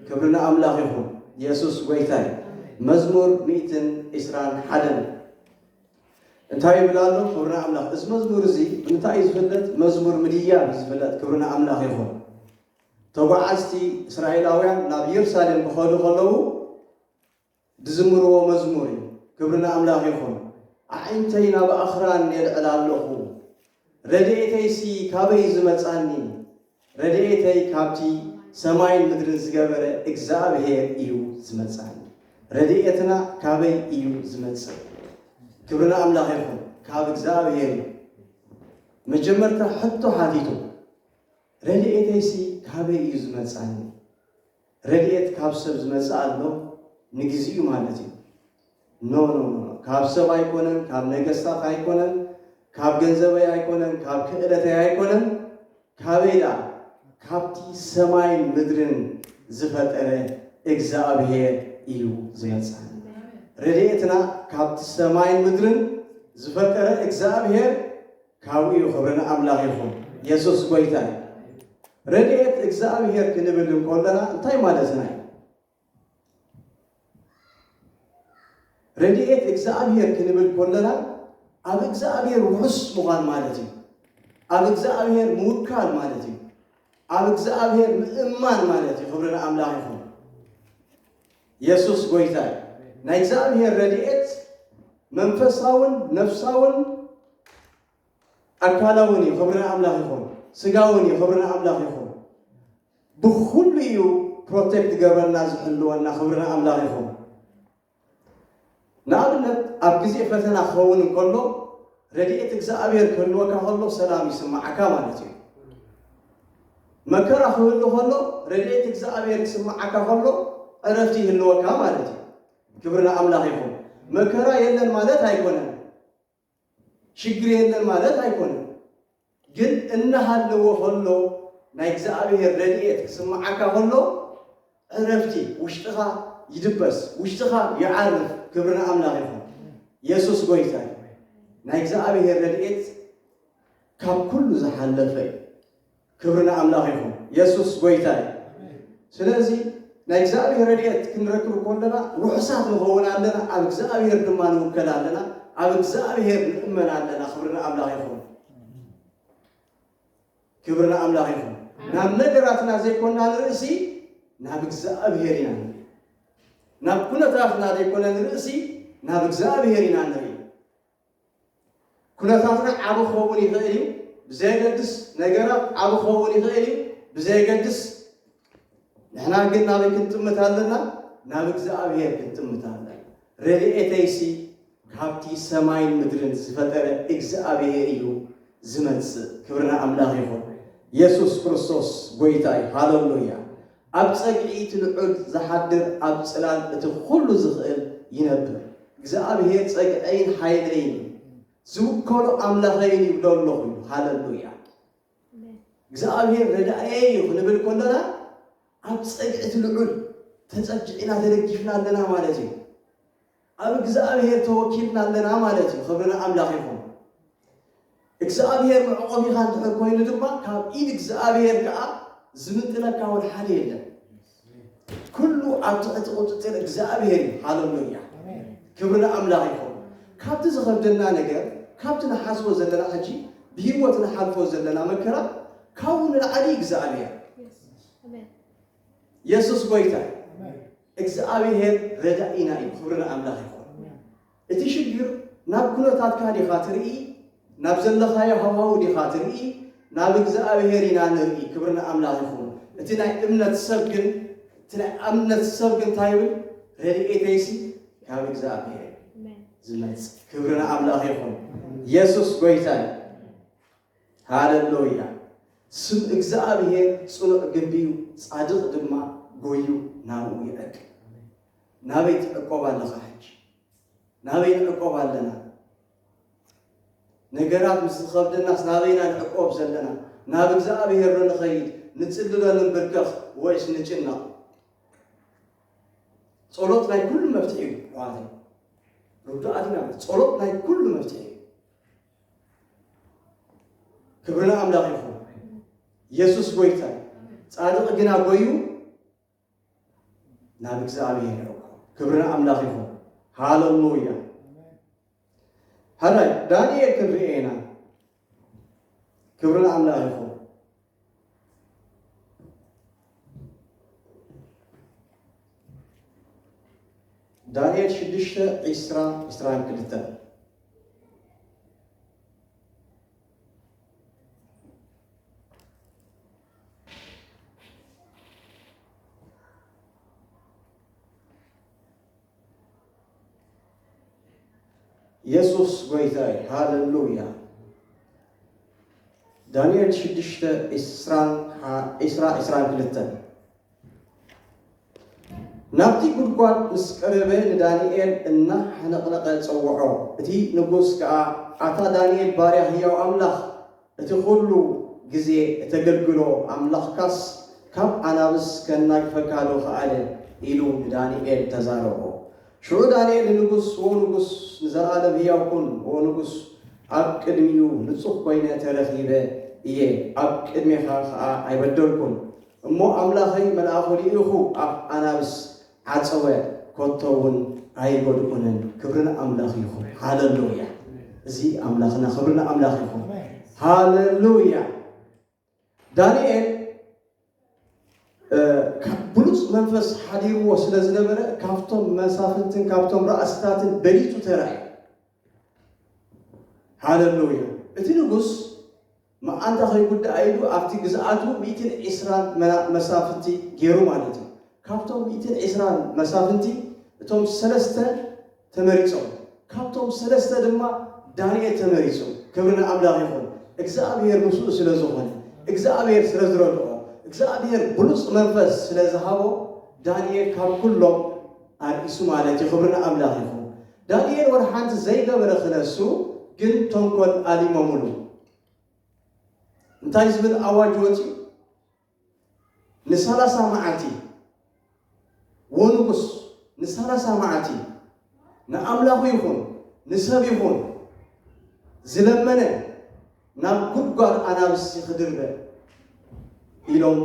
ክብሪ ንኣምላኽ ይኹን የሱስ ጎይታይ መዝሙር ሚእትን ዒስራን ሓደን እንታይ ይብል ኣሎ ክብሪ ንኣምላኽ እዚ መዝሙር እዚ እንታይ እዩ ዝፍለጥ መዝሙር ምድያብ እዩ ዝፍለጥ ክብሪ ንኣምላኽ ይኹን ተጓዓዝቲ እስራኤላውያን ናብ የሩሳሌም ክኸዱ ከለዉ ዝዝምርዎ መዝሙር እዩ ክብሪ ንኣምላኽ ይኹን። ኣዒንተይ ናብ ኣኽራን የልዕል ኣሎኹ ረድኤተይሲ ካበይ ዝመጻኒ ረድኤተይ ካብቲ ሰማይን ምድርን ዝገበረ እግዝኣብሄር እዩ ዝመጻኒ ረድኤትና ካበይ እዩ ዝመጽእ ክብሪ ንኣምላኽ ይኹን ካብ እግዝኣብሄር እዩ መጀመርታ ሕቶ ሓቲቱ ረድኤተይሲ ካበይ እዩ ዝመጻኒ ረድኤት ካብ ሰብ ዝመጽእ ኣሎ ንግዚኡ ማለት እዩ ኖኖኖ ካብ ሰብ ኣይኮነን ካብ ነገስታት ኣይኮነን ካብ ገንዘበይ ኣይኮነን ካብ ክእለተይ ኣይኮነን ካበይ ደኣ ካብቲ ሰማይን ምድርን ዝፈጠረ እግዝኣብሄር እዩ ዝመጽኣኒ ረድኤትና ካብቲ ሰማይን ምድርን ዝፈጠረ እግዝኣብሄር ካብኡ እዩ ክብሪ ንኣምላኽ ይኹን የሱስ ጎይታ እዩ። ረድኤት እግዚኣብሄር ክንብል እንከሎና እንታይ ማለትና እዩ? ረድኤት እግዚኣብሄር ክንብል ከሎና ኣብ እግዚኣብሄር ውሑስ ምዃን ማለት እዩ። ኣብ እግዚኣብሄር ምውካል ማለት እዩ። ኣብ እግዚኣብሄር ምእማን ማለት እዩ። ክብሪ ንኣምላኽ ይኹን። የሱስ ጎይታ እዩ። ናይ እግዚኣብሄር ረድኤት መንፈሳውን ነፍሳውን ኣካላውን እዩ። ክብሪ ንኣምላኽ ይኹን። ስጋውን እዩ። ክብሪ ንኣምላኽ ይኹን። ብኹሉ እዩ ፕሮቴክት ገብረና ዝሕልወና። ክብሪ ንኣምላኽ ይኹን። ንኣብነት ኣብ ግዜ ፈተና ክኸውን እንከሎ ረድኤት እግዝኣብሄር ክህልወካ ከሎ ሰላም ይስምዓካ ማለት እዩ። መከራ ክህሉ ከሎ ረድኤት እግዝኣብሄር ክስምዓካ ከሎ ዕረፍቲ ይህልወካ ማለት እዩ። ክብሪ ንኣምላኽ ይኹን። መከራ የለን ማለት ኣይኮነን። ሽግር የለን ማለት ኣይኮነን ግን እናሃለወ ከሎ ናይ እግዝኣብሄር ረድኤት ክስምዓካ ከሎ ዕረፍቲ ውሽጥኻ ይድበስ ውሽጥኻ ይዓርፍ ክብሪ ንኣምላኽ ይኹን የሱስ ጎይታ እዩ ናይ እግዝኣብሄር ረድኤት ካብ ኩሉ ዝሓለፈ እዩ ክብሪ ንኣምላኽ ይኹን የሱስ ጎይታ እዩ ስለዚ ናይ እግዚኣብሔር ረድኤት ክንረክብ ኮለና ርሑሳት ንኸውን ኣለና ኣብ እግዚኣብሔር ድማ ንውከል ኣለና ኣብ እግዚኣብሔር ንእመን ኣለና ክብሪ ንኣምላኽ ይኹን ክብሪ ንኣምላኽ ይኹን ናብ ነገራትና ዘይኮና ንርእሲ ናብ እግዚኣብሔር ኢና ንርኢ ናብ ኩነታትና ዘይኮነ ንርእሲ ናብ እግዚኣብሔር ኢና ንርኢ ኩነታትና ዓቢ ክኸውን ይኽእል እዩ ብዘየገድስ፣ ነገራት ዓቢ ክኸውን ይኽእል እዩ ብዘየገድስ፣ ንሕና ግን ናበይ ክንጥምት ኣለና? ናብ እግዚኣብሔር ክንጥምት ኣለና። ረድኤተይሲ ካብቲ ሰማይን ምድርን ዝፈጠረ እግዚኣብሔር እዩ ዝመጽእ። ክብሪ ንኣምላኽ ይኹን። የሱስ ክርስቶስ ጐይታ እዩ። ሃለሉያ! ኣብ ጸግዒ እቲ ልዑል ዝሓድር ኣብ ጽላል እቲ ኹሉ ዝኽእል ይነብር። እግዝኣብሄር ጸግዐይን ሓይለይን እዩ፣ ዝውከሎ ኣምላኸይን ይብሎ ኣለኹ ኢሉ። ሃለሉያ! እግዝኣብሄር ረዳእየይ እዩ ክንብል ከሎና ኣብ ጸግዒ እቲ ልዑል ተጸጊዕና ተደጊፍና ኣለና ማለት እዩ። ኣብ እግዝኣብሄር ተወኪልና ኣለና ማለት እዩ ክብሪ ንኣምላኽ ይኹን። እግዝኣብሄር መዕቆቢኻ እንድሕር ኮይኑ ድማ ካብ ኢድ እግዝኣብሄር ከኣ ዝምጥነካ እውን ሓደ የለን። ኩሉ ኣብ ትሕቲ ቁጽጽር እግዝኣብሄር እዩ። ሃለሉያ ክብሪ ንኣምላኽ ይኹን። ካብቲ ዝኸብደና ነገር ካብቲ ንሓስቦ ዘለና ሕጂ ብሂወት ንሓልፎ ዘለና መከራ ካብኡ ንልዓሊ እግዝኣብሄር የሱስ ጎይታ እዩ። እግዝኣብሄር ረዳኢና እዩ ክብሪ ንኣምላኽ ይኹን። እቲ ሽግር ናብ ኩነታትካ ዲኻ ትርኢ ናብ ዘለኻዮ ሃዋሁ ዲኻ ትርኢ ናብ እግዝኣብሄር ኢና ንርኢ ክብሪ ንኣምላኽ ይኹን። እቲ ናይ እምነት ሰብ ግን እቲ ናይ ኣምነት ሰብ ግን እንታይ ይብል ረድኤተይሲ ካብ እግዝኣብሄር ዝመጽእ ክብሪ ንኣምላኽ ይኹን። የሱስ ጎይታ እዩ። ሃለሎያ! ስም እግዝኣብሄር ጽኑዕ ግንቢ እዩ፣ ጻድቕ ድማ ጎዩ ናብኡ ይዕቅብ። ናበይ ትዕቆብ ኣለኻ ሕጂ? ናበይ ንዕቆብ ኣለና? ነገራት ምስ ዝኸብደናስ ናበይ ኢና ንዕቆብ ዘለና? ናብ እግዝኣብሄር ዶ ንኸይድ፣ ንጽሊ ዶ ንንብርከኽ ወይስ ንጭነቕ? ጸሎት ናይ ኩሉ መፍትሒ እዩ ኣሕዋተይ፣ ርዱኣት ኢና። ጸሎት ናይ ኩሉ መፍትሒ እዩ። ክብሪ ንኣምላኽ ይኹን። ኢየሱስ ጎይታ እዩ። ጻድቕ ግና ጎዩ ናብ እግዚኣብሔር ይረኩ። ክብሪ ንኣምላኽ ይኹን። ሃለሉያ ሃላይ ዳንኤል ክንርኤ ኢና። ክብሪ ንኣምላኽ ይኹን። ዳንኤል ሽዱሽተ ዒስራ ዒስራን ክልተን የሱስ ጎይታ እዩ ሃለሉያ ዳንኤል ሽዱሽተ ዒስራን ሓ- ዒስራ ዒስራን ክልተን ናብቲ ጉድጓድ ምስ ቀረበ ንዳንኤል እናሓነቕነቐ ጸውዖ እቲ ንጉስ ከኣ ኣታ ዳንኤል ባርያ ህያው ኣምላኽ እቲ ዅሉ ግዜ እተገልግሎ ኣምላኽካስ ካብ ኣናብስ ኬናግፈካዶ ኸኣለ? ኢሉ ንዳንኤል ተዛረቦ። ሽዑ ዳንኤል ንንጉስ፣ ዎ ንጉስ፣ ንዘለኣለም ህያው ኩን፣ ዎ ንጉስ፣ ኣብ ቅድሚኡ ንጹህ ኰይነ ተረኺበ እየ፣ ኣብ ቅድሜኻ ኸኣ ኣይበደልኩን። እሞ ኣምላኸይ መልኣኹ ልኢኹ ኣብ ኣናብስ ዓጸወ ኮቶ ውን ኣይጎድኡንን ክብሪ ንኣምላኽ ይኹን ሃለሉያ እዚ ኣምላኽና ክብሪ ንኣምላኽ ይኹን ሃለሉያ ዳንኤል ብሉፅ መንፈስ ሓዲርዎ ስለ ዝነበረ ካብቶም መሳፍንትን ካብቶም ራእስታትን በሊፁ ተረፍ ሃለሉያ! እቲ ንጉስ መኣንታ ከይጉዳእ ኢሉ ኣብቲ ግዝኣቱ ሚእትን ዒስራን መሳፍንቲ ገይሩ ማለት እዩ። ካብቶም ሚእትን ዒስራን መሳፍንቲ እቶም ሰለስተ ተመሪጾም፣ ካብቶም ሰለስተ ድማ ዳንኤል ተመሪጹ። ክብሪ ንኣምላኽ ይኹን። እግዝኣብሄር ምስኡ ስለ ዝኾነ፣ እግዝኣብሄር ስለ ዝረድኦ፣ እግዝኣብሄር ብሉጽ መንፈስ ስለ ዝሃቦ ዳንኤል ካብ ኩሎም ኣርኢሱ ማለት እዩ። ክብሪ ንኣምላኽ ይኹን። ዳኒኤል ወላ ሓንቲ ዘይገበረ ክነሱ ግን ተንኮል ኣሊሞሙሉ እንታይ ዝብል ኣዋጅ ወጺኡ ንሳላሳ መዓልቲ ወንጉስ ንሳላሳ መዓልቲ ንኣምላኹ ይኹን ንሰብ ይኹን ዝለመነ ናብ ጉድጓድ ኣናብስ ክድርበ ኢሎም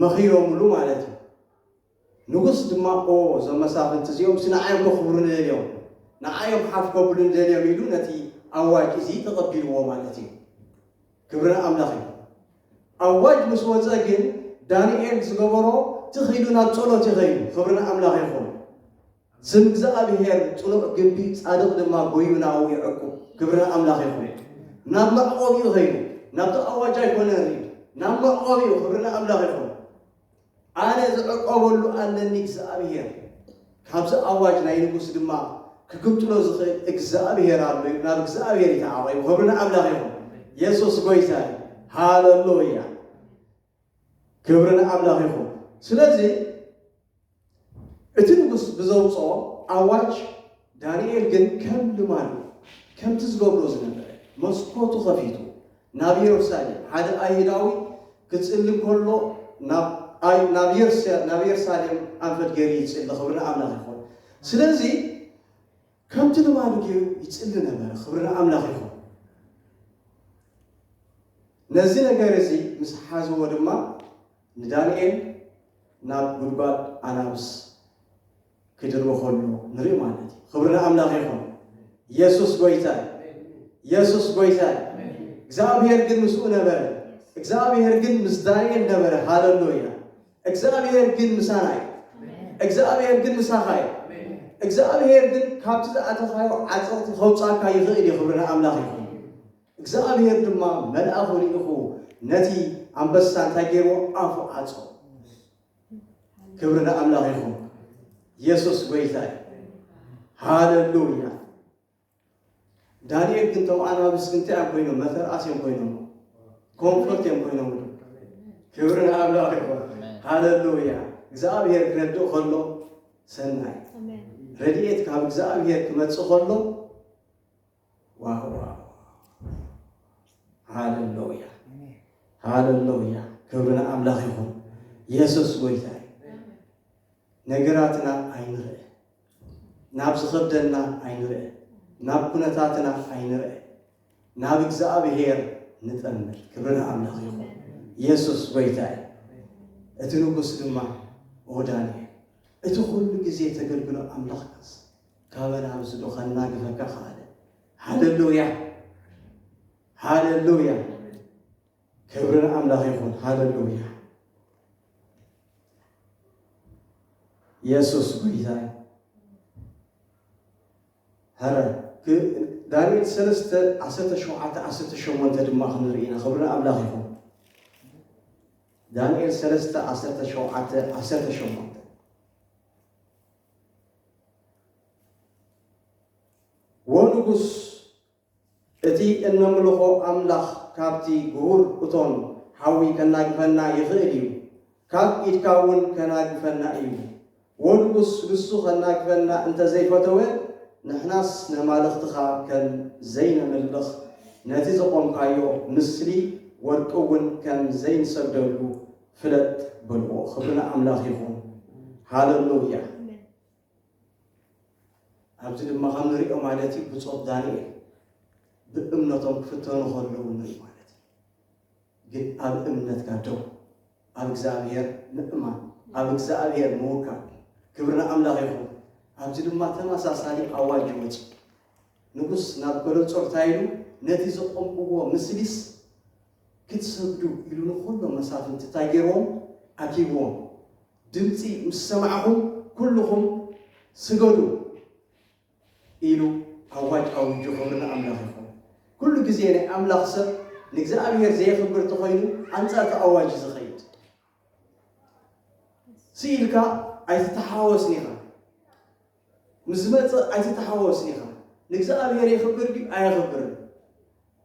መኺሮሙሉ ማለት እዩ። ንጉስ ድማ ኦ እዞም መሳፍንቲ እዚኦምሲ ንዓይ እዮም ከኽብሩኒ ደልዮም፣ ንዓይ እዮም ሓፍ ከብሉኒ ደልዮም ኢሉ ነቲ ኣዋጅ እዚ ተቐቢልዎ ማለት እዩ። ክብሪ ንኣምላኽ ይኹን። ኣዋጅ ምስ ወጸ ግን ዳንኤል ዝገበሮ ትኽ ኢሉ ናብ ጸሎት እዩ ከይዱ። ክብሪ ንኣምላኽ ይኹን። ስም እግዝኣብሄር ጽኑዕ ግምቢ ጻድቕ ድማ ጎዩ ናብኡ ይዕቁብ። ክብሪ ንኣምላኽ ይኹን። ናብ መዕቆቢኡ ከይዱ። ናብቲ ኣዋጅ ኣይኮነን ሪድ ናብ መዕቆቢኡ ክብሪ ንኣምላኽ ይኹን። ኣነ ዝዕቆበሉ ኣለኒ እግዝኣብሄር፣ ካብዚ ኣዋጅ ናይ ንጉስ ድማ ክግምጥሎ ዝኽእል እግዝኣብሄር ኣሎ ኢሉ ናብ እግዝኣብሄር እዩ ተዓቂቡ። ክብሪ ንኣምላኽ ይኹን። የሱስ ጎይታ እዩ። ሃለሉያ ክብሪ ንኣምላኽ ይኹን። ስለዚ እቲ ንጉስ ብዘውጽኦ ኣዋጅ ዳንኤል ግን ከም ልማዱ ከምቲ ዝገብሮ ዝነበረ መስኮቱ ከፊቱ ናብ የሩሳሌም ሓደ ኣይሁዳዊ ክጽሊ ከሎ ናብ የርሳሌም ኣንፈት ገይሩ ይጽሊ ክብሪ ንኣምላኽ ይኹን ስለዚ ከምቲ ልማዱ ገይሩ ይጽሊ ነበረ ክብሪ ንኣምላኽ ይኹን ነዚ ነገር እዚ ምስ ሓዝዎ ድማ ንዳንኤል ናብ ጉድጓድ ኣናብስ ክድርቦ ከሎ ንርኢ ማለት እዩ። ክብሪ ንኣምላኽ ይኹን። ኢየሱስ ጎይታ እዩ። ኢየሱስ ጎይታ እዩ። እግዚኣብሔር ግን ምስኡ ነበረ። እግዚኣብሔር ግን ምስ ዳንኤል ነበረ። ሃለሉያ። እግዚኣብሔር ግን ምሳና እዩ። እግዚኣብሔር ግን ምሳኻ እዩ። እግዚኣብሔር ግን ካብቲ ዝኣተኻዮ ዓፀቕቲ ከውፃካ ይኽእል እዩ። ክብሪ ንኣምላኽ ይኹን። እግዚኣብሄር ድማ መልኣኹ ልኢኹ ነቲ ኣንበሳ እንታይ ገይርዎ ኣፉ ዓጾ። ክብሪ ንኣምላኽ ይኹን። የሱስ ጎይታ እዩ። ሃለሉያ። ዳንኤል ግን እቶም ኣናብስ እንታይ እዮም ኮይኖም? መተርኣስ እዮም ኮይኖም፣ ኮንፈርት እዮም ኮይኖም። ክብሪ ንኣምላኽ ይኹን። ሃለሉያ። እግዚኣብሄር ክረድእ ከሎ ሰናይ ረድኤት ካብ እግዚኣብሄር ክመጽእ ከሎ ዋውዋው ሃለሎያ ሃለሎያ ክብሪ ንኣምላኽ ይኹን የሱስ ጎይታ እዩ ነገራትና ኣይንርአ ናብ ዝኸብደና ኣይንርአ ናብ ኩነታትና ኣይንርአ ናብ እግዚኣብሔር ንጠምር ክብሪ ንኣምላኽ ይኹን የሱስ ጎይታ እዩ እቲ ንጉስ ድማ ኦ ዳንኤል እቲ ኩሉ ግዜ ተገልግሎ ኣምላኽካስ ካበን ኣምስዶ ከናግፈካ ከኣለ ሃለሉያ ሃለሉያ ክብሪ ንኣምላኽ ይኹን ሃለሉያ የሱስ ጎይታ ሀረ ዳንኤል ሰለስተ ዓሰርተ ሸውዓተ ዓሰርተ ሸሞንተ ድማ ክንርኢ ኢና ክብሪ ንኣምላኽ ይኹን ዳንኤል ሰለስተ ዓሰርተ ሸውዓተ ዓሰርተ ሸሞንተ ወንጉስ እቲ እነምልኾ ኣምላኽ ካብቲ ግሁር እቶን ሓዊ ከናግፈና ይኽእል እዩ፣ ካብ ኢድካ እውን ከናግፈና እዩ። ወንጉስ ንሱ ከናግፈና እንተ ዘይፈተወ፣ ንሕናስ ነማልኽትኻ ከም ዘይነምልኽ፣ ነቲ ዘቖምካዮ ምስሊ ወርቂ እውን ከም ዘይንሰግደሉ፣ ፍለጥ በልዎ ክብሪ ንኣምላኽ ይኹን ሃለሉያ ኣብዚ ድማ ከም ንሪኦ ማለት እዩ ብጾት ዳንኤል ብእምነቶም ክፍተኑ ከለዉ ንርኢ ማለት እዩ ግን ኣብ እምነትካ ደው ኣብ እግዚኣብሔር ምእማን ኣብ እግዚኣብሔር ምውካል ክብሪ ንኣምላኽ ይኹን ኣብዚ ድማ ተመሳሳሊ ኣዋጅ ይወፅ ንጉስ ናብ በለጾር እንታይ ኢሉ ነቲ ዘቆምክዎ ምስሊስ ክትሰግዱ ኢሉ ንኹሎም መሳፍንቲ እንታይ ገይርዎም? ኣኪብዎም። ድምጺ ምስ ሰማዕኹም ኩሉኹም ስገዱ ኢሉ ኣዋጅ ኣዊጁ። ክብሪ ንኣምላኽ ይኹን። ኩሉ ግዜ ናይ ኣምላኽ ሰብ ንእግዚኣብሔር ዘየኽብር ተኾይኑ ኣንጻር እቲ ኣዋጅ እዩ ዝኸይድ። ስኢልካ ኣይትተሓዋወስን ኢኻ። ምስ ዝመጽእ ኣይትተሓወስ ኢኻ። ንእግዝኣብሄር የኽብር ድዩ ኣየኽብርን?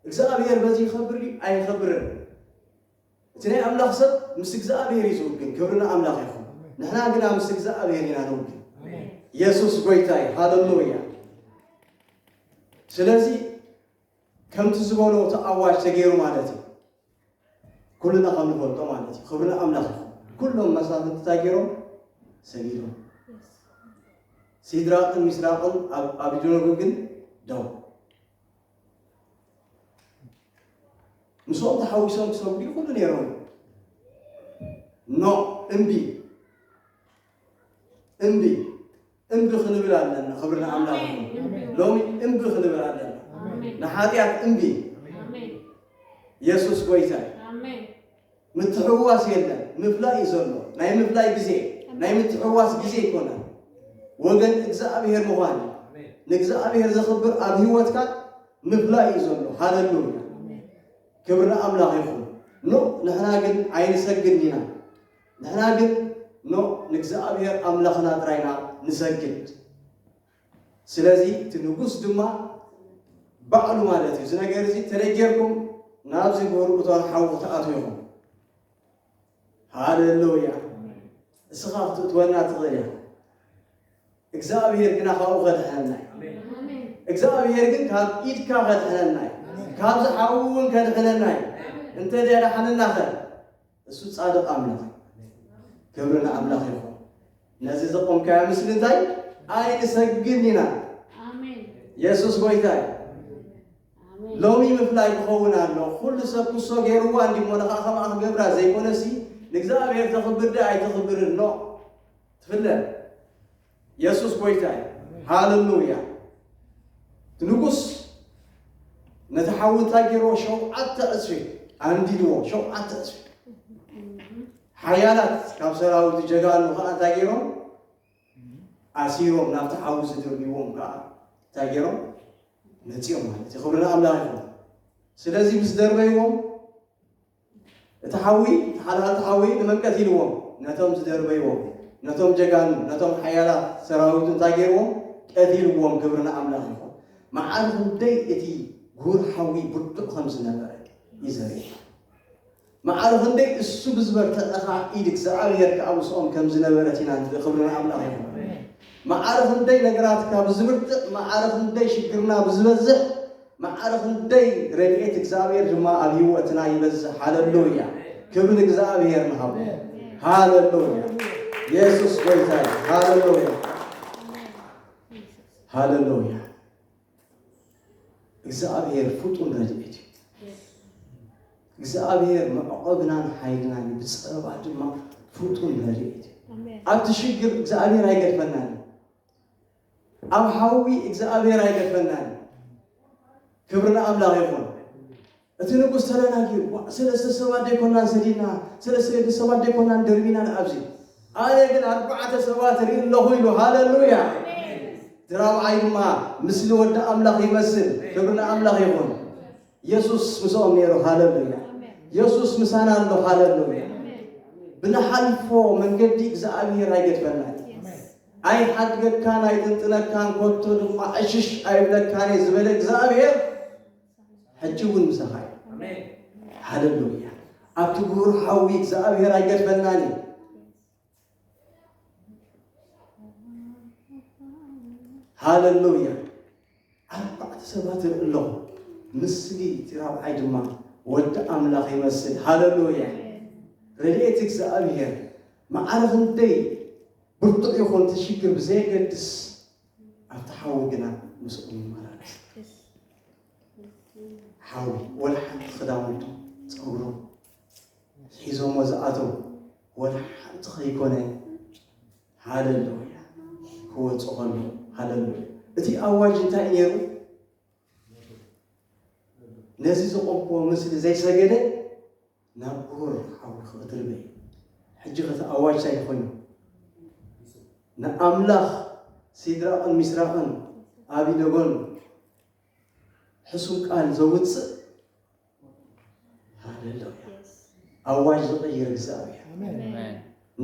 እግዝኣብሄር በዚ ይኸብር ድዩ ኣይኸብርን? እቲ ናይ ኣምላኽ ሰብ ምስ እግዝኣብሄር እዩ ዝውግን። ክብሪ ንኣምላኽ ይኹን። ንሕና ግና ምስ እግዝኣብሄር ኢና ንውግን። የሱስ ጎይታ እዩ። ሃለሉያ። ስለዚ ከምቲ ዝበሎ እቲ ኣዋጅ ተገይሩ ማለት እዩ። ኩልና ከም ንፈልጦ ማለት እዩ ክብሪ ንኣምላኽ ይኹን ኩሎም መሳፍንቲ እንታይ ገይሮም ሰጊዶም ሲድራቅን ሚስራቅን ኣብ ኣቢደነጎ ግን ደው ምስኦም ተሓዊሶም ክሰግዱ ይኽእሉ ነይሮም ኖ እምቢ እምቢ እምቢ ክንብል ኣለና ክብሪ ንኣምላኽ ኣሜን። ይኹን እምቢ። ሎሚ እምቢ ክንብል ኣለና ኣሜን። ንሓጢኣት እምቢ ኣሜን። የሱስ ጎይታ እዩ ኣሜን። ምትሕዋስ የለን ምፍላይ እዩ ዘሎ ናይ ምፍላይ ግዜ ናይ ምትሕዋስ ግዜ ይኮነ ወገን እግዚኣብሔር ምዃን እዩ። ንእግዚኣብሔር ዘኽብር ኣብ ህይወትካ ምፍላይ እዩ ዘሎ ሃለሉያ ክብሪ ንኣምላኽ ይኹን ኖ ንሕና ግን ኣይንሰግድን ኢና ንሕና ግን ኖእ ንእግዚኣብሄር ኣምላኽና ጥራይ ኢና ንሰግድ። ስለዚ እቲ ንጉስ ድማ ባዕሉ ማለት እዩ፣ እዚ ነገር እዚ እንተ ገይርኩም ናብዚ ብውልቁ እቶን ሓዊ ክትኣትዉ ኢኹም። ሃለ ሉያ እስኻ ክትእትወና ትኽእል ኢኻ እግዚኣብሔር ግና ካብኡ ከድሕነና እዩ እግዚኣብሔር ግን ካብ ኢድካ ከድሕነና እዩ ካብ ዝሓዊ እውን ከድሕነና እዩ እንተ ደዳሕንና ኸ እሱ ጻድቕ ኣምላኽ እዩ። ክብሪ ንኣምላኽ ይኹን። ነዚ ዘቆምካዮ ምስሊ እንታይ ኣይንሰግድን ኢና። የሱስ ጎይታ እዩ። ሎሚ ምፍላይ ክኸውን ኣሎ። ኩሉ ሰብ ክሶ ገይርዋ እንዲ እሞ ንኻ ከምኣ ክገብራ ዘይኮነሲ ንእግዚኣብሔር ተኽብር ዶ ኣይተኽብርን ኖ ትፍለ የሱስ ጎይታ እዩ ሃለሉያ እቲ ንጉስ ነቲ ሓዊ እንታይ ገይርዎ ሸውዓተ ዕፅፊ ኣንዲድዎ ሸውዓተ ዕፅፊ ሓያላት ካብ ሰራዊት ጀጋኑ ከዓ እንታይ ገይሮም ኣሲሮም ናብቲ ሓዊ ዝድርብዎም ከዓ እንታይ ገይሮም መፂኦም ማለት እዩ ክብሪ ንኣምላኽ ይኹን ስለዚ ምስ ደርበይዎም እቲ ሓዊ፣ እቲ ሓልሃልቲ ሓዊ ንመንቀዝ ኢልዎም ነቶም ዝደርበይዎም፣ ነቶም ጀጋኑ፣ ነቶም ሓያላት ሰራዊቱ እንታይ ገይርዎም? ቀቲልዎም። ክብሪ ንኣምላኽ ይኹን። መዓር ክንደይ እቲ ጉሁር ሓዊ ብርቱዕ ከም ዝነበረ እዩ ዘርእየካ። መዓር ክንደይ እሱ ብዝበርተዐኻ ኢድ እግዚኣብሔር ከኣ ምስኦም ከም ዝነበረት ኢና ንርኢ። ክብሪ ንኣምላኽ ይኹን። መዓር ክንደይ ነገራትካ ብዝብርትዕ፣ መዓር ክንደይ ሽግርና ብዝበዝሕ መዓረ ክንደይ ረድኤት እግዚኣብሔር ድማ ኣብ ህይወትና ይበዝሕ ሃለሉያ ክብሪ ንእግዚኣብሔር ንሃቦ ሃለሉያ የሱስ ጎይታ እዩ ሃለሉያ ሃለሉያ እግዚኣብሔር ፍጡን ረድኤት እዩ እግዚኣብሔር መዕቆብናን ሓይልናን እዩ ብፀበባ ድማ ፍጡን ረድኤት እዩ ኣብቲ ሽግር እግዚኣብሔር ኣይገድፈናን እዩ ኣብ ሓዊ እግዝኣብሄር ኣይገድፈናን እዩ ክብሪ ንኣምላኽ ይኹን እቲ ንጉስ ተዳናጊሩ ዋእ ሰለስተ ሰባት ደይኮናን ሰዲድና ሰለስተ ሰባት ደይኮናን ደርቢና ንኣብዚ ኣነ ግን ኣርባዕተ ሰባት ርኢ ኣለኹ ኢሉ ሃለሉያ እቲ ራብዓይ ድማ ምስሊ ወዲ ኣምላኽ ይመስል ክብሪ ንኣምላኽ ይኹን የሱስ ምስኦም ነይሩ ሃለሉያ የሱስ ምሳና ኣሎ ሃለሉያ ብንሓልፎ መንገዲ እግዚኣብሄር ኣይገድፈናን ኣይሓድገካን ኣይጥንጥነካን ኮቶ ድማ ዕሽሽ ኣይብለካን እየ ዝበለ እግዚኣብሔር ሕጂ እውን ምሳኻ እዩ ሃለሉያ ኣብቲ ጉሩር ሓዊ እግዚኣብሔር ኣይገድፈናን እዩ ሃለሉያ ኣርባዕተ ሰባት ይርኢ ኣለኹ ምስሊ እቲ ራብዓይ ድማ ወዲ ኣምላኽ ይመስል ሃለሉያ ረድኤት እግዚኣብሔር ማዕረ ክንደይ ብርቱዕ ይኹን እቲ ሽግር ብዘየገድስ ኣብቲ ሓዊ ግና ምስኡ ይመላለስ። ሓዊ ወላ ሓንቲ ክዳውንቱ ፀጉሩ ሒዞሞ ዝኣተው ወላ ሓንቲ ከይኮነ ሃለሉ እያ ክወፁ ከሎ ሃለሉ እቲ ኣዋጅ እንታይ ነይሩ? ነዚ ዘቆምክዎ ምስሊ ዘይሰገደ ናብ ቁሩር ሓውልኺ ክትርበይ ሕጂ ኸቲ ኣዋጅ ታይ ኮይኑ ንኣምላኽ ሲድራቕን ሚስራቕን ኣቢነጎን ሕሱም ቃል ዘውፅእ ሃሌሉያ ኣዋጅ ዝቕይር እግዚኣብሔር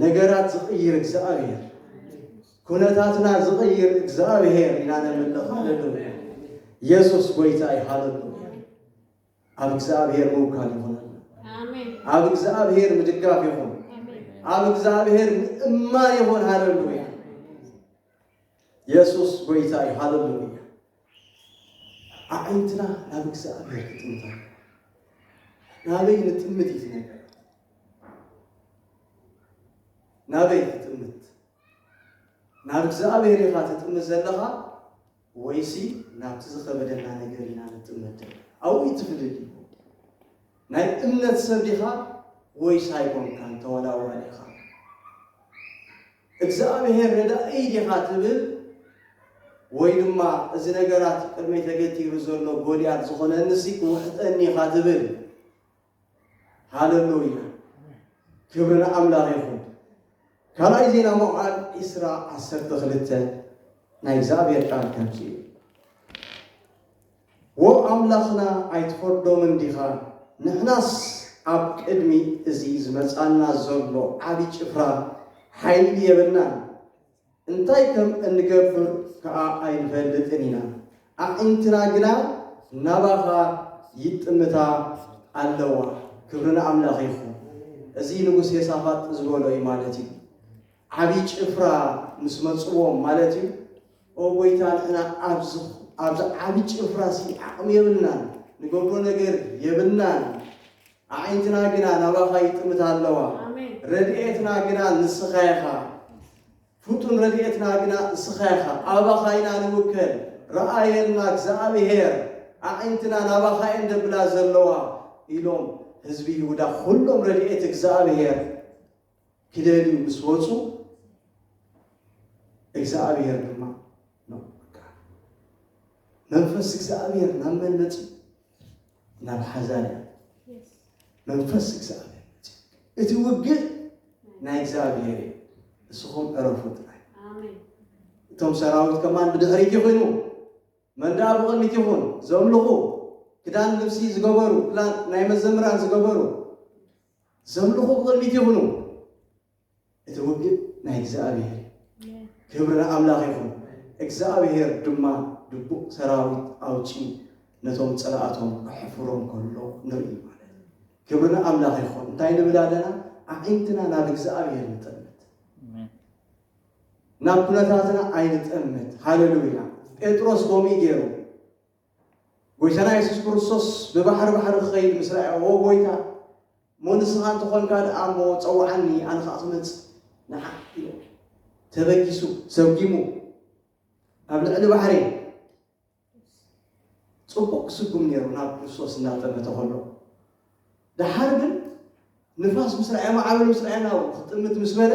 ነገራት ዝቕይር እግዚኣብሔር ኩነታትና ዝቕይር እግዚኣብሔር ኢና ነምልኽ ሃሌሉያ የሱስ ጎይታ እዩ ሃሌሉያ ኣብ እግዚኣብሔር ምውካል ይኹነልና። ኣብ እግዚኣብሔር ምድጋፍ ይኹን። ኣብ እግዚኣብሔር ምእማን ይኹን። ሃለሉያ! የሱስ ጎይታ እዩ። ሃለሉያ! ኣዒንትና ናብ እግዚኣብሔር ክጥምታ ናበይ ንጥምት እዩ ነገር ናበይ ትጥምት ናብ እግዚኣብሔር ኢኻ ትጥምት ዘለኻ ወይሲ ናብቲ ዝኸበደና ነገር ኢና ንጥመት ደለና? ኣብኡ እዩ እቲ ፍልልይ። ናይ እምነት ሰብ ዲኻ ወይስ ኣይኮንካን ተወላዋሊ ኢኻ? እግዝኣብሄር ረዳኢ ዲኻ ትብል ወይ ድማ እዚ ነገራት ቅድመይ ተገቲሩ ዘሎ ጎልያድ ዝኾነኒሲ ክውሕጠኒ ኢኻ ትብል? ሃለሉያ ክብሪ ንኣምላኽ ይኹን። ካልኣይ ዜና መዋዕል ዕስራ ዓሰርተ ክልተ ናይ እግዚኣብሔር ቃል ከምዚ እዩ ወ ኣምላኽና ኣይትፈርዶምን ዲኻ ንሕናስ ኣብ ቅድሚ እዚ ዝመፃና ዘሎ ዓብዪ ጭፍራ ሓይሊ የብልናን እንታይ ከም እንገብር ከኣ ኣይንፈልጥን ኢና፣ ኣዒንትና ግና ናባኻ ይጥምታ ኣለዋ። ክብሪ ንኣምላኽ ይኹን። እዚ ንጉስ የሳፋጥ ዝበሎ እዩ ማለት እዩ። ዓቢ ጭፍራ ምስ መጽዎም ማለት እዩ። ኦ ጎይታ ንሕና ኣብዚ ኣብዚ ዓቢ ጭፍራሲ ዓቕሚ የብልናን፣ ንገብሮ ነገር የብልናን። ኣዒንትና ግና ናባኻ ይጥምታ ኣለዋ። ረድኤትና ግና ንስኻ ኢኻ። ፍጡን ረድኤትና ግና እስኻ ኢኻ። ኣባኻ ኢና ንውከል። ርኣየልና እግዚኣብሄር፣ ኣዒንትና ናባኻ እየን ደብላ ዘለዋ ኢሎም ህዝቢ ይሁዳ ኹሎም ረድኤት እግዚኣብሄር ክደልዩ ምስ ወፁ እግዚኣብሔር ድማ ነው በቃ መንፈስ እግዚኣብሔር ናብ መን መፅኡ ናብ ሓዛርያ መንፈስ እግዚኣብሔር መፅኡ እቲ ውግእ ናይ እግዚኣብሔር እዩ ንስኹም ዕረፉ ጥራይ እቶም ሰራዊት ከማን ብድሕሪት ይኹኑ መንዳ ብቕድሚት ይኹን ዘምልኹ ክዳን ልብሲ ዝገበሩ ክዳን ናይ መዘምራን ዝገበሩ ዘምልኹ ብቕድሚት ይኹኑ። እቲ ውግእ ናይ እግዚኣብሔር እዩ። ክብሪ ንኣምላኽ ይኹን። እግዚኣብሔር ድማ ድቡቕ ሰራዊት ኣውጺኡ ነቶም ጸላእቶም ኣሕፍሮም ከሎ ንርኢ ማለት እዩ። ክብሪ ንኣምላኽ ይኹን። እንታይ ንብል ኣለና? ኣዒንትና ናብ እግዚኣብሔር ንጠምት፣ ናብ ኩነታትና ኣይንጠምት። ሃለሉያ! ጴጥሮስ ከምኡ ገይሩ ጐይታና የሱስ ክርስቶስ ብባሕሪ ባሕሪ ክኸይድ ምስ ረኣዮ፣ ኦ ጐይታ፣ እሞ ንስኻ እንተ ዀንካ ደኣ እሞ ጸውዓኒ፣ ኣነ ኸኣ ክመጽእ ንዓኽ ኢሉ ተበጊሱ፣ ሰጒሙ፣ ኣብ ልዕሊ ባሕሪ ጽቡቕ ክስጉም ነይሩ ናብ ክርስቶስ እናጠመተ ኸሎ። ደሓር ግን ንፋስ ምስ ረኣየ፣ ማዕበል ምስ ረኣየ ናብ ክጥምት ምስ በለ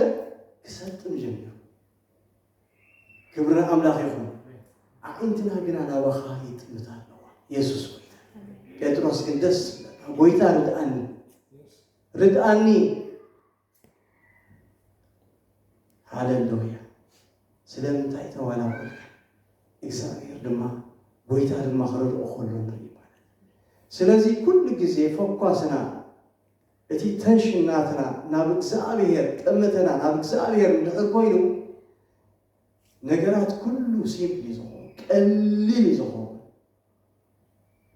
ክሰጥም ጀሚሩ። ክብሪ ኣምላኽ ይኹን። ኣዒንትና ግና ናባኻ ይጥምታ ኣለዋ የሱስ ጎይታ። ጴጥሮስ ግን ደስ ዝብለካ ጎይታ ርድኣኒ ርድኣኒ ሃለሉያ ስለምንታይ ተዋላወልካ እግዚኣብሔር ድማ ጎይታ ድማ ክረድኦ ከሎ ንርኢ ማለት እዩ። ስለዚ ኩሉ ግዜ ፈኳስና እቲ ተንሽን ናትና ናብ እግዝኣብሄር ጠመተና ናብ እግዝኣብሄር እንድሕር ኮይኑ ነገራት ኩሉ ሲምፕል እዩ ዝኸውን ቀሊል እዩ ዝኸውን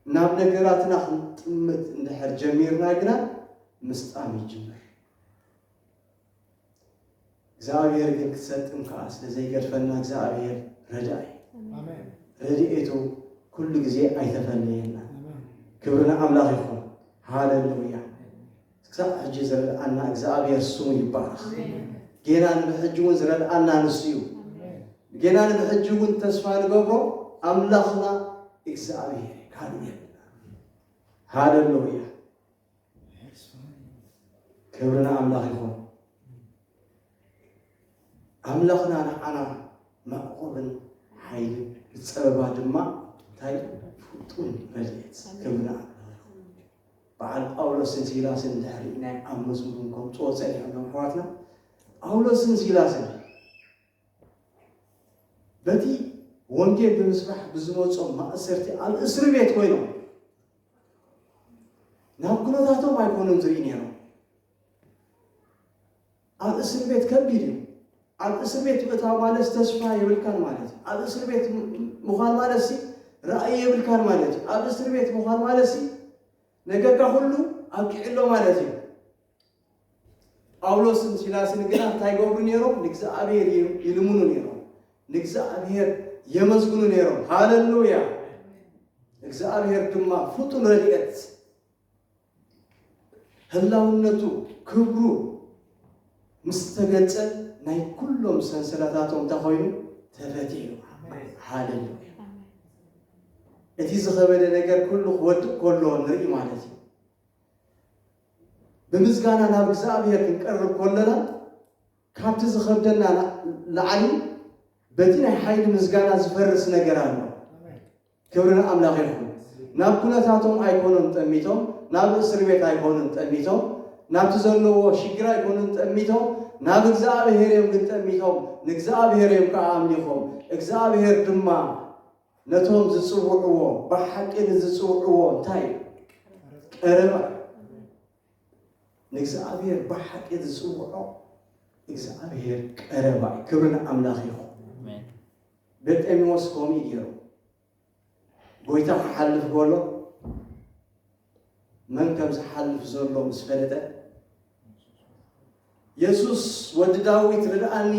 ናብ ነገራትና ክንጥምት እንድሕር ጀሚርና ግና ምስጣም ይጅምር። እግዚኣብሔር ግን ክትሰጥም ከዓ ስለ ዘይገድፈና እግዚኣብሔር ረዳኢ ረድኤቱ ኩሉ ግዜ ኣይተፈለየና። ክብሪ ንኣምላኽ ይኹን። ሃሌሉያ ክሳብ ሕጂ ዝረድኣና እግዚኣብሔር ስሙ ይባረኽ። ጌና ንብሕጂ እውን ዝረድኣና ንሱ እዩ። ጌና ንብሕጂ እውን ተስፋ ንገብሮ ኣምላኽና እግዚኣብሔር ካልእ የብልና። ሃሌሉያ ክብሪ ንኣምላኽ ይኹን። ኣምላኽና ንዓና መዕቆብን ሓይሊ ብፀበባ ድማ እንታይ ፍጡን ረድኤት ክብሪ ንኣምላኽ ይኹን። በዓል ጳውሎስን ሲላስን ድሕሪ ናይ ኣብ መዝሙር ከምፅኦ ፀኒሖም ኣሕዋትና ጳውሎስን ሲላስን በቲ ወንጌል ብምስባሕ ብዝመጾም ማእሰርቲ ኣብ እስሪ ቤት ኮይኖም ናብ ኩነታቶም ኣይኮኑን ዝርኢ ነይሮም። ኣብ እስር ቤት ከቢድ እዩ። ኣብ እስር ቤት ምእታው ማለት ተስፋ የብልካን ማለት እዩ። ኣብ እስር ቤት ምዃን ማለት ሲ ራእይ የብልካን ማለት እዩ። ኣብ እስር ቤት ምዃን ማለት ሲ ነገርካ ኩሉ ኣብቂዕሎ ማለት እዩ። ጳውሎስን ሲላስን ግና እንታይ ይገብሩ ነይሮም? ንእግዚኣብሔር ይ- ይልምኑ ነይሮም። ንእግዚኣብሔር የመስግኑ ነይሮም። ሃለሉያ! እግዚኣብሔር ድማ ፍጡን ረድኤት ህላውነቱ ክብሩ ምስ ተገልጸ ናይ ኩሎም ሰንሰለታቶም እንታይ ኮይኑ ተፈትሑ። ሃለሉያ! እቲ ዝኸበደ ነገር ኩሉ ክወድቕ ከሎ ንርኢ ማለት እዩ። ብምስጋና ናብ እግዝኣብሄር ክንቀርብ ኮሎና ካብቲ ዝኸብደና ላዕሊ በቲ ናይ ሓይሊ ምስጋና ዝፈርስ ነገር ኣሎ። ክብሪ ንኣምላኽ ይኹን። ናብ ኩነታቶም ኣይኮኑን ጠሚቶም፣ ናብ እስር ቤት ኣይኮኑን ጠሚቶም፣ ናብቲ ዘለዎ ሽግር ኣይኮኑን ጠሚቶም፣ ናብ እግዝኣብሄር እዮም ግን ጠሚቶም፣ ንእግዝኣብሄር እዮም ከኣ ኣምሊኾም። እግዝኣብሄር ድማ ነቶም ዝጽውዕዎ ብሓቂ ንዝጽውዕዎ እንታይ ቀረባ ንእግዚኣብሔር ብሓቂ ዝጽውዖ እግዚኣብሔር ቀረባ እዩ ክብሪ ንኣምላኽ ይኹን በርጤሜዎስ ከምኡ ገይሩ ጎይታ ክሓልፍ ከሎ መን ከም ዝሓልፍ ዘሎ ምስ ፈለጠ፣ የሱስ ወዲ ዳዊት ርድኣኒ፣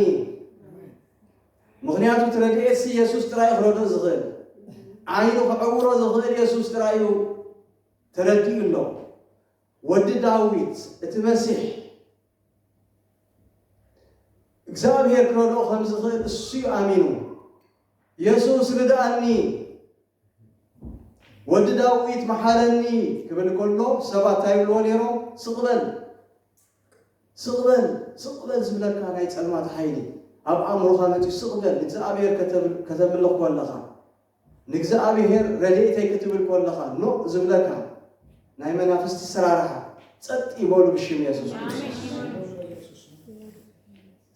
ምኽንያቱ እቲ ረድኤትሲ የሱስ ጥራይ እዩ ክረድኦ ዝኽእል፣ ዓይኑ ክዕውሮ ዝኽእል የሱስ ጥራይ እዩ ተረዲኡ ኣሎ። ወዲ ዳዊት እቲ መሲሕ እግዚኣብሄር ክረድኦ ከም ዝኽእል እሱ እዩ ኣሚኑ። የሱስ ርድኣኒ፣ ወዲ ዳዊት መሓረኒ ክብል ከሎ ሰባት እንታይ ይብልዎ ነይሮም? ስቕ በል ስቕ በል ስቕ በል ዝብለካ ናይ ጸልማት ሓይሊ ኣብ ኣእምሮኻ መጺኡ ስቕ በል ንእግዚኣብሔር ከተምልኽ ኮለኻ ንእግዚኣብሔር ረድኤተይ ክትብል ኮለኻ ኖእ ዝብለካ ናይ መናፍስቲ ስራርሓ ጸጥ ይበሉ ብሽም የሱስ ክርስቶስ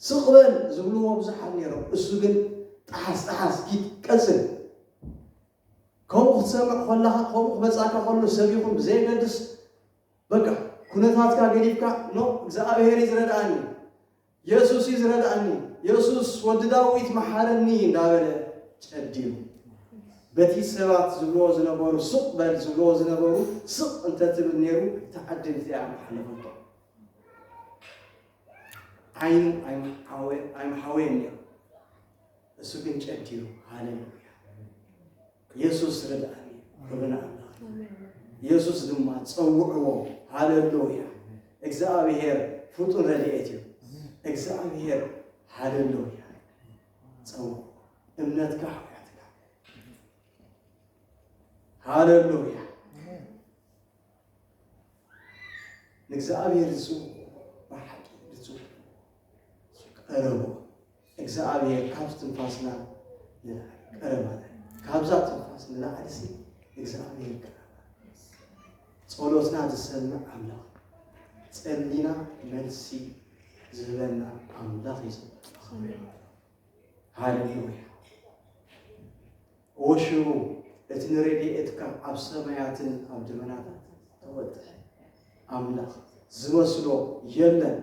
ስቕ በል ዝብልዎ ብዙሓት ነይሮም፣ እሱ ግን ጠሓስ ጠሓስ ኪድ ቀጽል ከምኡ ክትሰምዕ ኮለኻ ከምኡ ክመጻካ ከሎ ሰብ ይኹን ብዘየገድስ በቃ ኩነታትካ ገዲፍካ ኖ እግዝኣብሄር እዩ ዝረድኣኒ የሱስ እዩ ዝረድኣኒ የሱስ ወዲ ዳዊት መሓረኒ እንዳበለ ጨዲሩ በቲ ሰባት ዝብልዎ ዝነበሩ ስቕ በል ዝብልዎ ዝነበሩ ስቕ እንተትብል ነይሩ ተዓድልቲ እያ ምሓለፈቶ ዓይኑ ኣይምሓወየን ነይሩ፣ እሱ ግን ጨዲሩ። ሃሌሉያ! ኢየሱስ ርድኣኒ ክብል ኣምላኽ ኢየሱስ ድማ ጸውዕዎ። ሃሌሉያ! እግዚኣብሔር ፍጡር ረድኤት እዩ። እግዚኣብሔር ሃሌሉያ! ጸውዕ እምነትካ ሓውያትካ ሃሌሉያ! ንእግዚኣብሔር ዝጽውዑ ብሓቂ ብጹሕ ቀረቡ እግዚኣብሔር ካብ ትንፋስና ቀረባና ካብዛ ትንፋስ ንላዕልሲ እግዚኣብሔር ቀረባ ጸሎትና ዝሰምዕ ኣምላኽ ጸሊና መልሲ ዝህበና ኣምላኽ እዩ ሃሌሉያ እወ ሽሩ እቲ ንረዲኤትካ ኣብ ሰማያትን ኣብ ደበናታትን ተወጥሐ ኣምላኽ ዝመስሎ የለን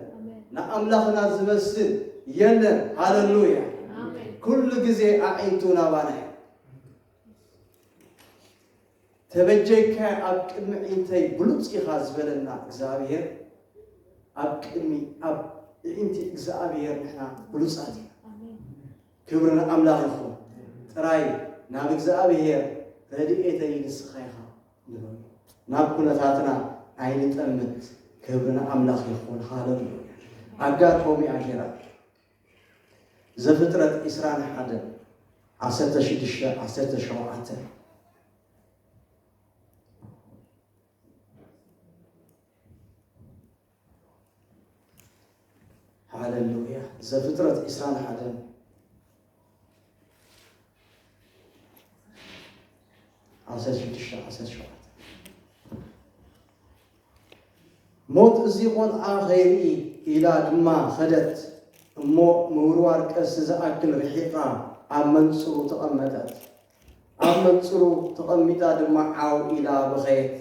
ንኣምላኽና ዝመስል የለን ሃለሉያ ኩሉ ግዜ ኣዒንቱ ናባና እዩ ተበጀይካ ኣብ ቅድሚ ዒንተይ ብሉፅ ኢኻ ዝበለና እግዚኣብሔር ኣብ ቅድሚ ኣብ ዒንቲ እግዚኣብሔር ንሕና ብሉፃት ኢና ክብሪ ንኣምላኽ ይኹን ጥራይ ናብ እግዝኣብሄር ረድኤተይ ንስኻ ኢኻ ንበሎ ናብ ኩነታትና ኣይንጠምት ክብሪ ንኣምላኽ ይኹን ሃለሉያ ኣጋር ኮሚኣ ጌራ ዘፍጥረት ኢስራን ሓደን ዓሰርተ ሽዱሽተ ዓሰርተ ሸውዓተ ሃለሉያ ዘፍጥረት ዒስራን ሓደን ዓሰርተ ሽዱሽተ ዓሰርተ ሸውዓተ ሞት እዚ ቆልዓ ኸይርኢ ኢላ ድማ ኸደት እሞ ምውርዋር ቀሲ ዝኣክል ርሒቓ ኣብ መንፅሩ ተቐመጠት ኣብ መንፅሩ ተቐሚጣ ድማ ዓው ኢላ በኸየት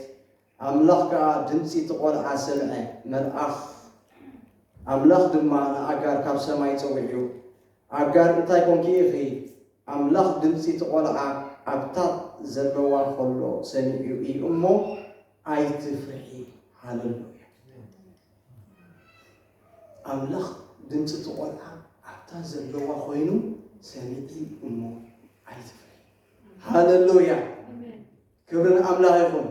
ኣምላኽ ከኣ ድምጺ እቲ ቈልዓ ሰምዐ፣ መልኣኽ ኣምላኽ ድማ ንኣጋር ካብ ሰማይ ጸዊዑ፣ ኣጋር እንታይ ኰንኪ ኢኺ? ኣምላኽ ድምጺ እቲ ቈልዓ ኣብ ታጥ ዘለዋ ኸሎ ሰሚዑ እዩ እሞ፣ ኣይትፍርሒ። ሃለሉያ! ኣምላኽ ድምጺ እቲ ቈልዓ ኣብታ ዘለዋ ዀይኑ ሰሚዑ እሞ፣ ኣይትፍርሒ። ሃለሉያ! ክብሪ ንኣምላኽ ይኹን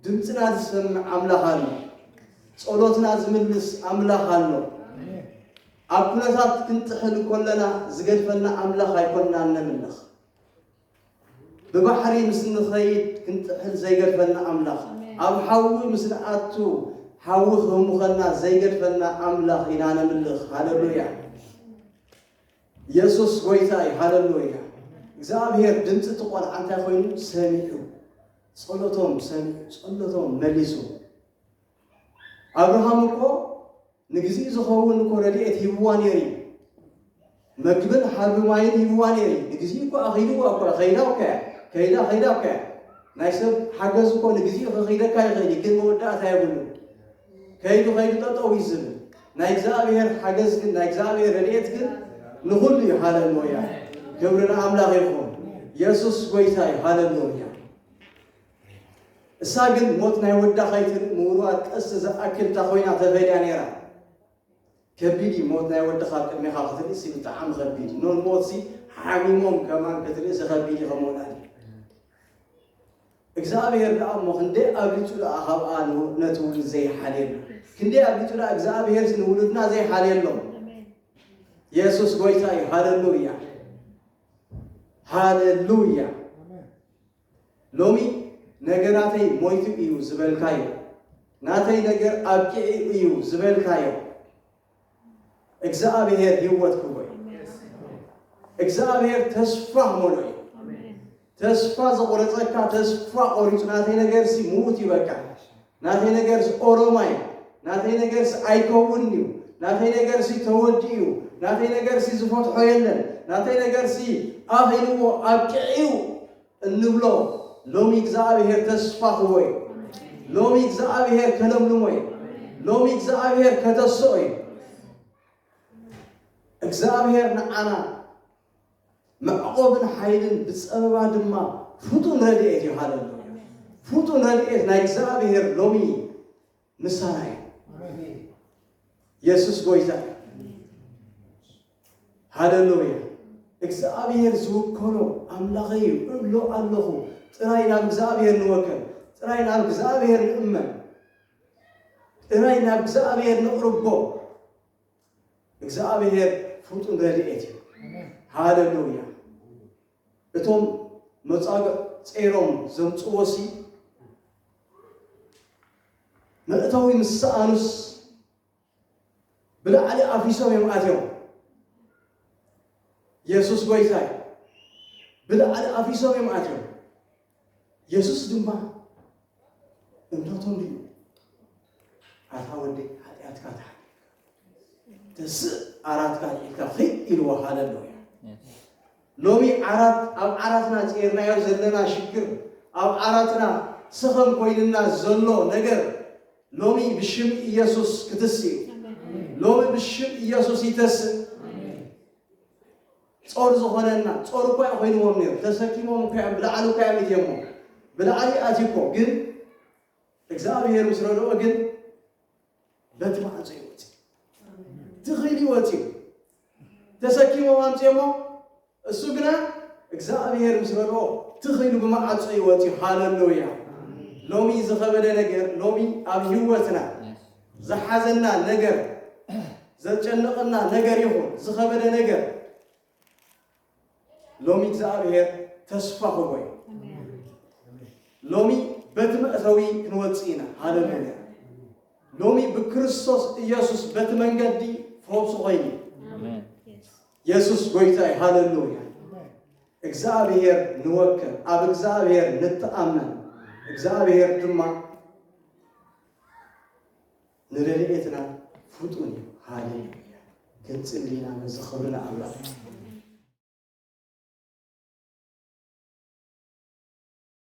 ድምጽና ዝሰምዕ ኣምላኽ ኣሎ ጸሎትና ዝምልስ ኣምላኽ ኣሎ ኣብ ኩነታት ክንጥሕል ኮለና ዝገድፈና ኣምላኽ ኣይኮንናን ነምልኽ ብባሕሪ ምስ ንኸይድ ክንጥሕል ዘይገድፈና ኣምላኽ ኣብ ሓዊ ምስ ንኣቱ ሓዊ ክህሙኸና ዘይገድፈና ኣምላኽ ኢና ነምልኽ ሃለሉያ የሱስ ጎይታ እዩ ሃለሎያ። እግዝኣብሄር ድምጺ እቲ ቆልዓ እንታይ ኮይኑ ሰሚዑ ጸሎቶም ሰሚዑ ጸሎቶም መሊሱ። ኣብርሃም እኮ ንግዚኡ ዝኸውን እኮ ረድኤት ሂብዋ ነይሩ እዩ። መግብን ሓርቢ ማይን ሂብዋ ነይሩ እዩ። ንግዚኡ እኮ ኣኺድዋ እኮ ከይዳ እኮ እያ ከይዳ ከይዳ እኮ እያ ናይ ሰብ ሓገዝ እኮ ንግዚኡ ከኺደካ ይኽእል እዩ፣ ግን መወዳእታ የብሉ። ከይዱ ከይዱ ጠጠው እዩ ዝብል ናይ እግዚኣብሔር ሓገዝ ግን ናይ እግዚኣብሔር ረድኤት ግን ንኹሉ እዩ ሃለሉያ ክብሪ ንኣምላኽ ይኹን የሱስ ጎይታ እዩ ሃለሉያ እሳ ግን ሞት ናይ ወዳ ከይትርኢ ምውርዋር ቀስቲ ዝኣክል እታ ኮይና ተፈልያ ነይራ ከቢድ እዩ ሞት ናይ ወድኻ ኣብ ቅድሜኻ ክትርእሲ ብጣዕሚ ከቢድ እዩ ኖን ሞትሲ ሓሚሞም ከማን ክትርእሲ ከቢድ እዩ ከም ወላዲ እግዚኣብሔር ደኣ እሞ ክንደይ ኣብሊፁ ደኣ ካብኣ ነቲ ውሉድ ዘይሓልየሉ ክንደይ ኣብሊፁ ደኣ እግዚኣብሔር ንውሉድና ዘይሓልየሎም የሱስ ጎይታ እዩ ሃለሉያ ሃለሉያ ሎሚ ነገራተይ ሞይቱ እዩ ዝበልካዮ፣ ናተይ ነገር ኣብቂዑ እዩ ዝበልካዮ፣ እግዝኣብሄር ህይወት ክህቦ እዩ። እግዝኣብሄር ተስፋ ክመልኦ እዩ። ተስፋ ዘቑረፀካ ተስፋ ቆሪፁ ናተይ ነገርሲ ምዉት እዩ በቃ ናተይ ነገርስ ኦሮማይ ናተይ ነገርስ ኣይከውን እዩ ናተይ ነገርሲ ተወዲኡ እዩ ናተይ ነገርሲ ዝፈትሖ የለን ናተይ ነገርሲ ኣኺልዎ ኣብቂዕዩ እንብሎ ሎሚ እግዚኣብሔር ተስፋ ክህቦ እዩ ሎሚ እግዚኣብሔር ከለምልሞ እዩ ሎሚ እግዚኣብሔር ከተስኦ እዩ እግዚኣብሔር ንዓና መዕቆብን ሓይልን ብጸበባ ድማ ፍጡን ረድኤት እዩ ሃለሉያ ፍጡን ረድኤት ናይ እግዚኣብሔር ሎሚ ምሳና እዩ የሱስ ጎይታ እዩ ሃለሉያ እግዚኣብሔር ዝውከሎ ኣምላኸ እዩ እብሎ ኣለኹ ጥራይ ናብ እግዚኣብሔር ንወከል ጥራይ ናብ እግዚኣብሔር ንእመን ጥራይ ናብ እግዚኣብሔር ንቕርቦ እግዝኣብሄር ፍጡን ረድኤት እዩ። ሃለሉያ እቶም መጻግዕ ጼሮም ዘምጽዎ ሲ መእተዊ ምስ ሰኣኑስ ብላዕሊ ኣፊሶም እዮም ኣትዮም የሱስ ጎይታይ ብላዕሊ ኣፊሶም እዮም ኣትዮም የሱስ ድማ እንታቶም ድዩ ኣታ ወዲ ሓጢኣትካ ተሓዲግካ ተስእ ዓራትካ ልዒልካ ኺድ ኢልዎ ሃለሎ እያ ሎሚ ዓራት ኣብ ዓራትና ጼርናዮ ዘለና ሽግር ኣብ ዓራትና ስኸም ኮይንና ዘሎ ነገር ሎሚ ብሽም ኢየሱስ ክትስ እዩ ሎሚ ብሽም ኢየሱስ ይተስእ ጾር ዝኾነና ጾር እኳ እዩ ኮይንዎም ነይሩ ተሰኪሞም እኳ እዮም ብላዕሊ እኳ እዮም እትየሞ ብላዕሊ ኣትዩ እኮ ግን እግዚኣብሔር ምስ ረድኦ ግን በቲ ማዕጾ እዩ ወፂኡ ትኽእል እዩ ወፂኡ ተሰኪሞም ኣምፅኦሞ እሱ ግና እግዚኣብሔር ምስ ረድኦ ትኽእሉ ብማዕጾ እዩ ወፂኡ ሃለሉያ ሎሚ ዝኸበደ ነገር ሎሚ ኣብ ህይወትና ዝሓዘና ነገር፣ ዘጨነቐና ነገር ይኹን ዝኸበደ ነገር ሎሚ እግዚኣብሔር ተስፋ ኹቦ እዩ። ሎሚ በቲ መእተዊ ክንወፅእ ኢና። ሃለሉያ! ሎሚ ብክርስቶስ ኢየሱስ በቲ መንገዲ ፈውሲ ኮይኑ የሱስ ጎይታ እዩ። ሃለሉያ! እግዚኣብሔር ንወክል፣ ኣብ እግዚኣብሔር ንተኣመን፣ እግዚኣብሔር ድማ ንረድኤትና ፍጡን እዩ። ሃሌሉያ ክንጽሊ ኢና ነዚ ክብሪ ንኣምላኽ